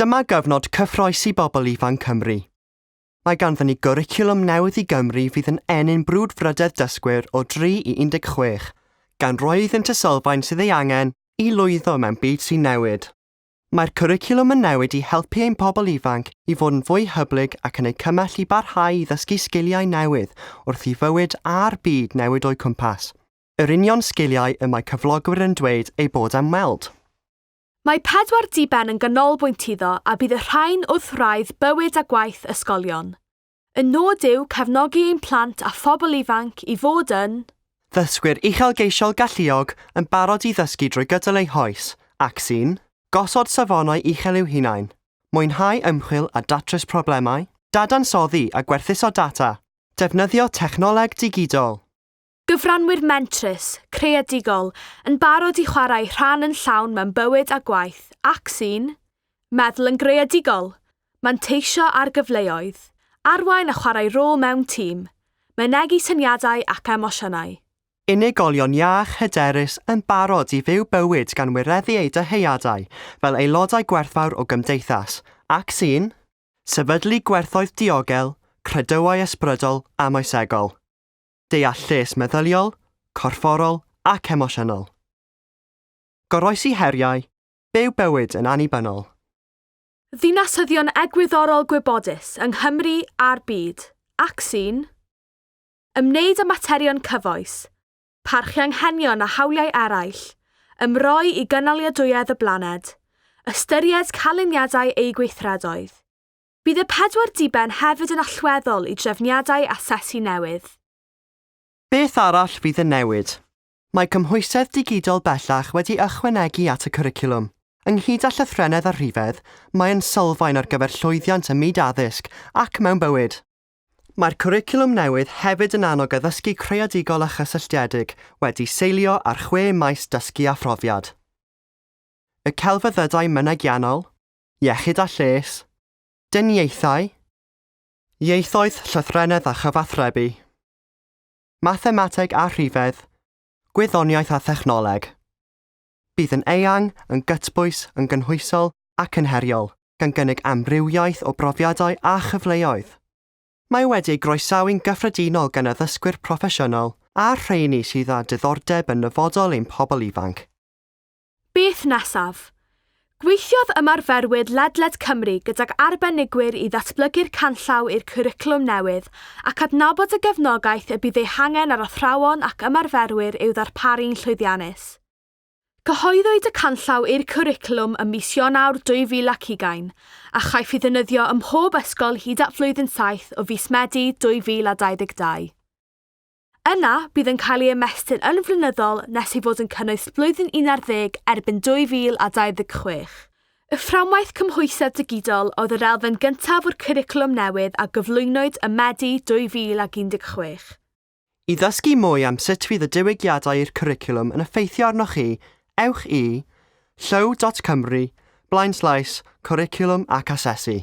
Dyma gyfnod cyffroes i bobl ifanc Cymru. Mae ganddyn ni gwricwlwm newydd i Gymru fydd yn ennyn brwdfrydedd dysgwyr o 3 i 16, gan roi iddynt y sylfaen sydd ei angen i lwyddo mewn byd sy'n newid. Mae'r cwricwlwm yn newid i helpu ein pobl ifanc i fod yn fwy hyblyg ac yn eu cymell i barhau i ddysgu sgiliau newydd wrth i fywyd a'r byd newid o'u cwmpas, yr union sgiliau y mae cyflogwyr yn dweud eu bod am weld. Mae pedwar diben yn ganolbwynt iddo a bydd y rhain wrth wraidd bywyd a gwaith ysgolion. Y nod yw cefnogi ein plant a phobl ifanc i fod yn Ddysgwyr uchelgeisiol galluog yn barod i ddysgu drwy gydol eu hoes ac sy'n Gosod safonau uchel i'w hunain, mwynhau ymchwil a datrys problemau, dadansoddi a gwerthuso data, defnyddio technoleg digidol. Gyfranwyr mentrus, creadigol, yn barod i chwarae rhan yn llawn mewn bywyd a gwaith ac sy'n meddwl yn greadigol, manteisio ar gyfleoedd, arwain a chwarae rôl mewn tîm, mynegi syniadau ac emosiynau. Unigolion iach, hyderus, yn barod i fyw bywyd gan wireddu eu dyheadau fel aelodau gwerthfawr o gymdeithas ac sy'n sefydlu gwerthoedd diogel, credoau ysbrydol a moesegol. deall lles meddyliol, corfforol ac emosiynol. Goroesi heriau, byw bywyd yn annibynnol. Ddinasyddion egwyddorol gwybodus yng Nghymru a'r byd, ac sy'n ymwneud â materion cyfoes, parchu anghenion a hawliau eraill, ymroi i gynaliadwyedd y blaned, ystyried canlyniadau eu gweithredoedd, Bydd y pedwar diben hefyd yn allweddol i drefniadau asesu newydd. Beth arall fydd yn newid? Mae cymhwysedd digidol bellach wedi ychwanegu at y cwricwlwm. Ynghyd â llythrennedd a rhifedd, mae'n sylfaen ar gyfer llwyddiant ym myd addysg ac mewn bywyd. Mae'r cwricwlwm newydd hefyd yn annog addysgu creadigol a chysylltiedig wedi seilio ar chwe maes dysgu a phrofiad, y celfyddydau mynegiannol, iechyd a lles, dyniaethau, ieithoedd llythrennedd a chyfathrebu, mathemateg a rhifedd, gwyddoniaeth a thechnoleg. Bydd yn eang, yn gytbwys, yn gynhwysol ac yn heriol, gan gynnig amrywiaeth o brofiadau a chyfleoedd. Mae wedi ei groesawu'n gyffredinol gan addysgwyr proffesiynol a'r rheini sydd â diddordeb yn nyfodol ein pobl ifanc. Beth nesaf? Gweithiodd ymarferwyr ledled Cymru gydag arbenigwyr i ddatblygu'r canllaw i'r cwricwlwm newydd ac adnabod y gefnogaeth y bydd ei hangen ar athrawon ac ymarferwyr i'w ddarparu'n llwyddiannus. Cyhoeddwyd y canllaw i'r cwricwlwm ym mis Ionawr 2020, a chaiff ei ddefnyddio ym mhob ysgol hyd at flwyddyn saith o fis Medi 2022. Yna, bydd yn cael ei ymestyn yn flynyddol nes ei fod yn cynnwys blwyddyn 11 erbyn 2026. Y Fframwaith Cymhwysedd Digidol oedd yr elfen gyntaf o'r cwricwlwm newydd a gyflwynwyd ym Medi 2016. I ddysgu mwy am sut fydd y diwygiadau i'r cwricwlwm yn effeithio arnoch chi, ewch i, Llyw dot Cymru, blaenslaes, Cwricwlwm ac Asesu.